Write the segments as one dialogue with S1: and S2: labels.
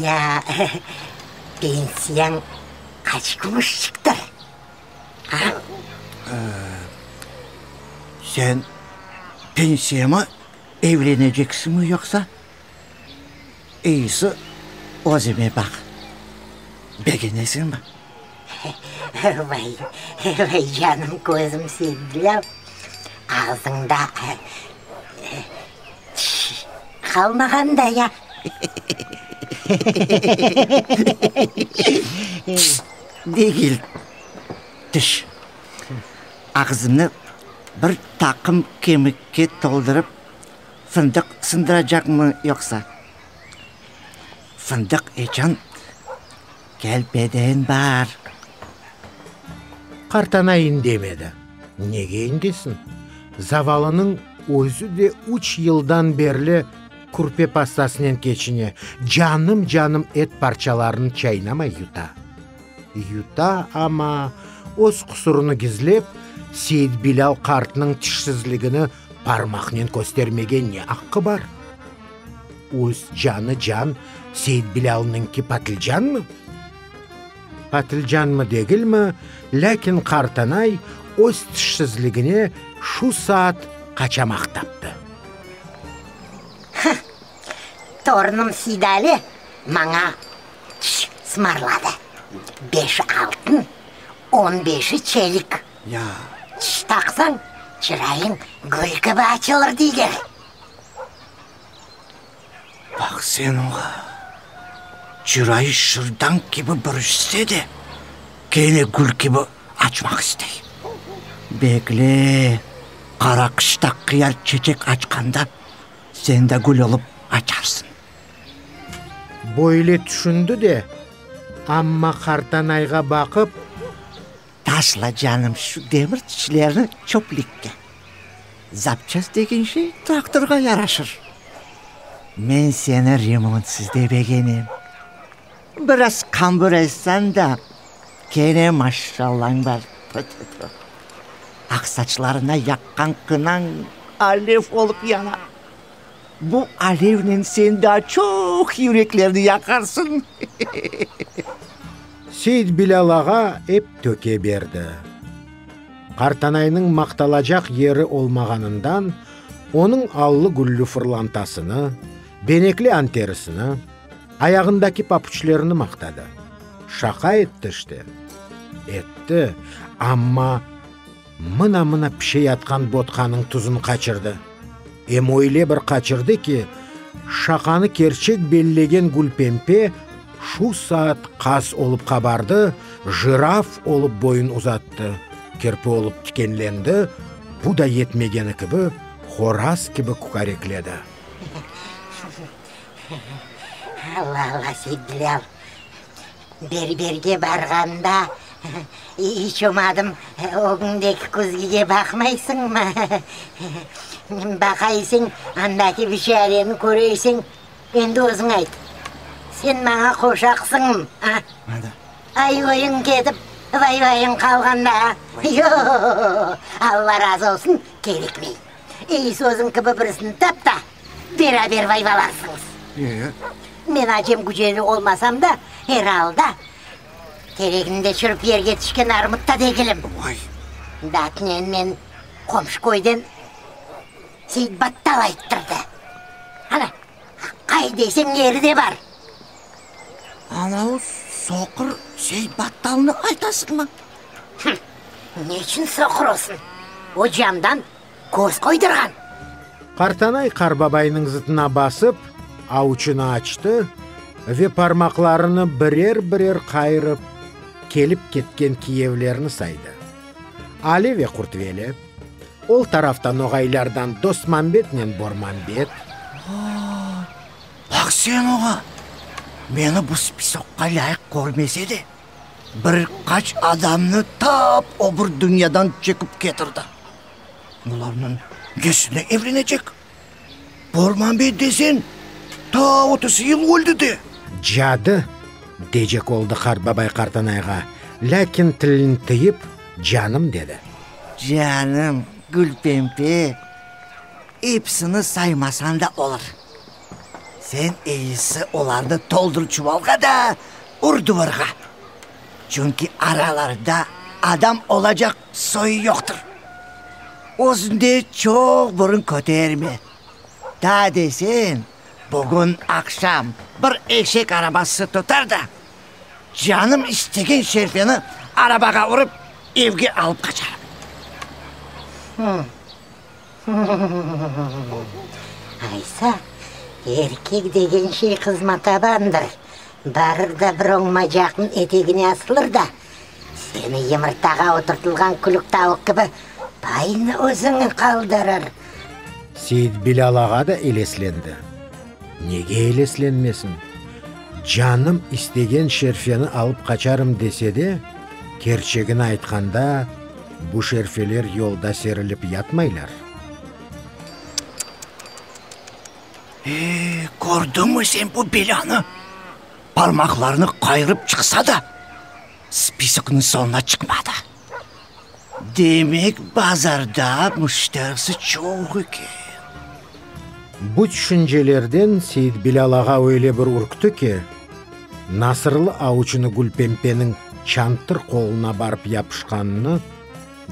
S1: Ya pensiyañ qaç kumuş çıqtı?
S2: Sen pensiyamı evleneceksiñmi yoqsa? İyisi, özüme baq, begenesiñmi? Vay,
S1: vay canım, közüm sevgilim, ağzıñda Qalmağan da ya.
S2: Degil, tış. Ağzını bir taqım kemikke toldurıp fındıq sındıracaqmı yoqsa? Fındıq eçan Kelpeden bar! Qart
S3: ana indemedi. Nege indesin? Zavallınıñ özü de üç yıldan berli kürpe pastasınen keçine, canım-canım et parçalarını çaynamay yuta. Yuta, amma, öz qusurını gizlep, Seitbilâl qartnıñ tişsizligini Parmaqnen köstermege ne aqqı bar? Üz canı can, Seit-Bilâlnıñki patlıcanmı? Patlıcanmı degilmi, lâkin qartanay öz tişsizligine şu saat qaçamaq taptı. Hıh,
S1: torunım Seydali maña çiş smarladı, beşi altın, on beşi çelik. Ya.
S2: Tiş taqsañ,
S1: çırayıñ gül kibi açılır deyler.
S2: Baq sen oña, çırayı şırdañ kibi bürüşse de, kene gül kibi açmaq istey. Bekle, qara qışta qıyar çeçek açqanda, sen de gül olıp açarsıñ.
S3: Böyle tüşündi de, amma qartanayğa baqıp.
S2: Taşla, canım, şu demir tişlerni çöplikke. Zapçast degen şey traktorğa yaraşır. Men seni remontsız da begenem. Biraz qambur etsen de, kene maşşallañ bar. Tü-tü-tü! Aq saçlarına yaqqan qınañ alev olıp yana. Bu alevnen sen daa çoq yüreklerni yaqarsıñ.
S3: Seit Bilâl ağa ep töke berdi. Qartanaynıñ maqtalacaq yeri olmağanından, onıñ allı-güllü fırlantasını, benekli anterisini, ayağındaki papuçlerini maqtadı. Şaqa etti işte. Etti, amma. Mına-mına pişeyatqan botqanıñ tuzun qaçırdı. Em öyle bir qaçırdı ki, şaqanı kerçek bellegen Gülpempe şu saat qaz olıp qabardı, jiraf olıp boyun uzattı, kirpi olıp tikenlendi, bu da yetmegeni kibi, horaz kibi kükarekledi.
S1: Alla-alla, Seytbilâl! Berberge barğanda iç olmadım, ögündeki küzgige baqmaysıñmı? Baqayısıñ, andaki bişareni köreysiñ, endi özüñ ayt, sen maña qoşaqsıñmı, a? Ayvayıñ ketip, vayvayıñ qalğanda, a? Yoq, Alla razı olsun, kerekmey. Ey, sözüñ kibi birisini tap ta. Beraber vayvalarsıñız. Men acem güceli olmasam da, er alda, teregnimde çürip yerge tüşken armut ta degilim. Datnen men qomşu köyden Seytbattal ayttırdı. Ana, qay deseñ yeri de bar.
S2: Ana o soqır Seytbattalnı aytasıñmı?
S1: Ne içün soqır olsun? O camdan köz qoydurğan. Qartanay
S3: qarbabaynıñ zıtına basıp, avuçını açtı ve parmaqlarını birer-birer qayırıp, kelip ketken kiyevlerni saydı. Ali ve Qurtveli, ol tarafta noğaylardan Dosmambetnen Bormambet. Aa,
S2: baq sen oña! Meni bu spisoqqa lâyıq körmese de, bir qaç adamnı tap o bir dünyadan çekip ketirdi. Bularnıñ nesine evlenecek? Bormanbey desen, ta otuz yıl oldı de. Cadı!
S3: decek oldı qartbabay Qartanayğa, lâkin tilini tıyıp, canım dedi. Canım,
S2: Gülpembe, epsini saymasañ da olur. Sen eyisi olarnı toldur çuvalğa da ur duvarğa. Çünki aralarında adam olacaq soyu yoqtır. Özünde çoq burun köterme. Da desen, bugün aqşam bir eşek arabası tutar da, canım istegen şerpeni arabağa urıp, evge alıp qaçarım.
S1: Aysa, erkek degen şey qızma tabandır, barır da bir oñmacaqnıñ etegine asılır da, seni yımırtağa oturtılğan külük tavuq kibi baynı özüñe qaldırır.
S3: Seit-Bilâl ağa da eleslendi. Nege eleslenmesin? Canım istegen şerfeni alıp qaçarım dese de, kerçegini aytqanda, Bu şerfeler yolda serilip yatmaylar.
S2: Eee, kördiñmi sen bu belânı? Parmaqlarını qayırıp çıqsa da, spiskniñ soñuna çıqmadı. Demek, bazarda müşterisi çoq eken.
S3: Bu tüşüncelerden Seit Bilâl ağa öyle bir ürkti ki, nasırlı avuçını Gülpempeniñ çantır qoluna barıp yapışqanını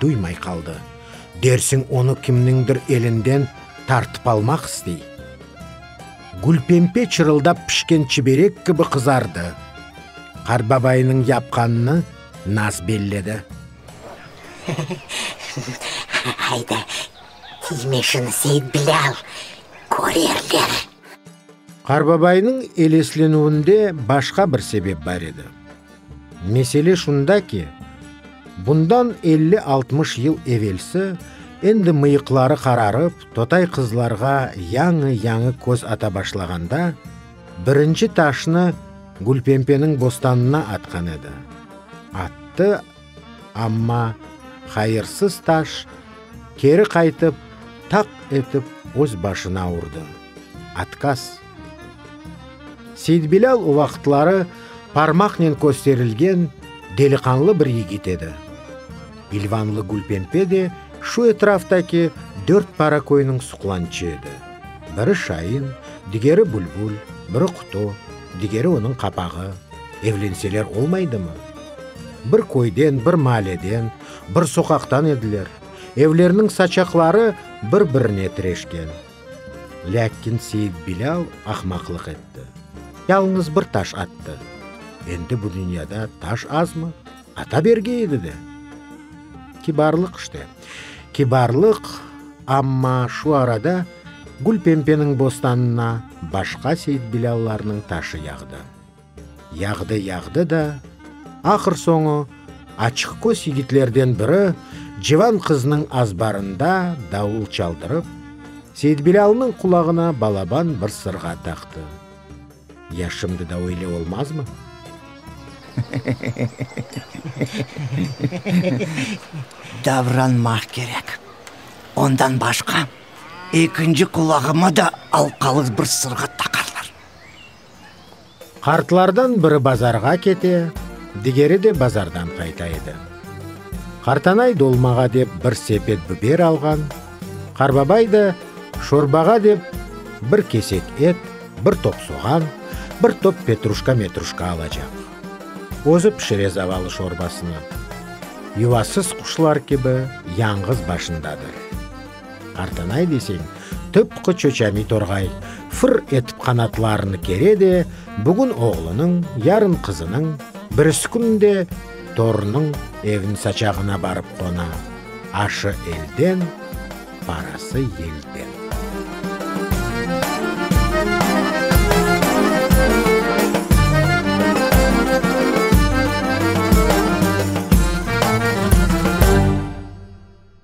S3: duymay qaldı, dersiñ onı kimniñdir elinden tartıp almaq istey. Gülpempe çırıldap pişken çiberek kibi qızardı. Qartbabaynıñ yapqanını naz belledi.
S1: Hayda, Sizme şını Seit Bilâl körerler.
S3: Qarbabaynıñ eleslenüvinde başqa bir sebep bar edi. Mesele şunda ki, bundan elli-altmış yıl evelsi, endi mıyıqları qararıp, totay qızlarğa yañı-yañı köz ata başlağanda, birinci taşnı Gülpempeniñ bostanına atqan edi. Attı. Amma hayırsız taş keri qaytıp, taq etip öz başına urdı. Otkaz. Seitbilâl o vaqıtları parmaqnen kösterilgen deliqanlı bir yigit edi. İlvanlı Gülpempe de şu etraftaki dört para köyniñ suqlançı edi, biri şain, digeri bülbül, biri qutu, digeri onıñ qapağı, evlenseler olmaydımı? Bir köyden, bir maaleden, bir soqaqtan ediler. Evlerniñ saçaqları bir-birine tireşken. Lâkin Seit-Bilâl ahmaqlıq etti, yalıñız bir taş attı. Endi bu dünyada taş azmı? Ata berge edi de. Kibarlıq işte, kibarlıq, amma şu arada Gülpempeniñ bostanına başqa Seit-Bilâllarnıñ taşı yağdı. Yağdı, yağdı da, ahır soñu, açıqqöz yigitlerden biri civan qıznıñ azbarında davul çaldırıp, Seitbilâlnıñ qulağına balaban bir sırğa taqtı. Ya şimdi da öyle olmazmı?
S2: Davranmaq kerek. Ondan başqa, ekinci qulağıma da alqalıq bir sırğa taqarlar.
S3: Qartlardan biri bazarğa kete, digeri de bazardan qayta edi. Qartanay dolmağa dep bir sepet biber alğan, Qarbabay da şorbağa dep bir kesek et, bir top soğan, bir top petruşka-metruşka alacaq. Özü pişire zavalı şorbasını. Yuvasız quşlar kibi yañğız başındadır. Artanay deseñ, tıpqı çoçami torğay, fır etip qanatlarını kere de, bugün oğlunıñ, yarın qızınıñ, birisi kün de torunıñ evin saçağına barıp qona, aşı elden, parası yelden.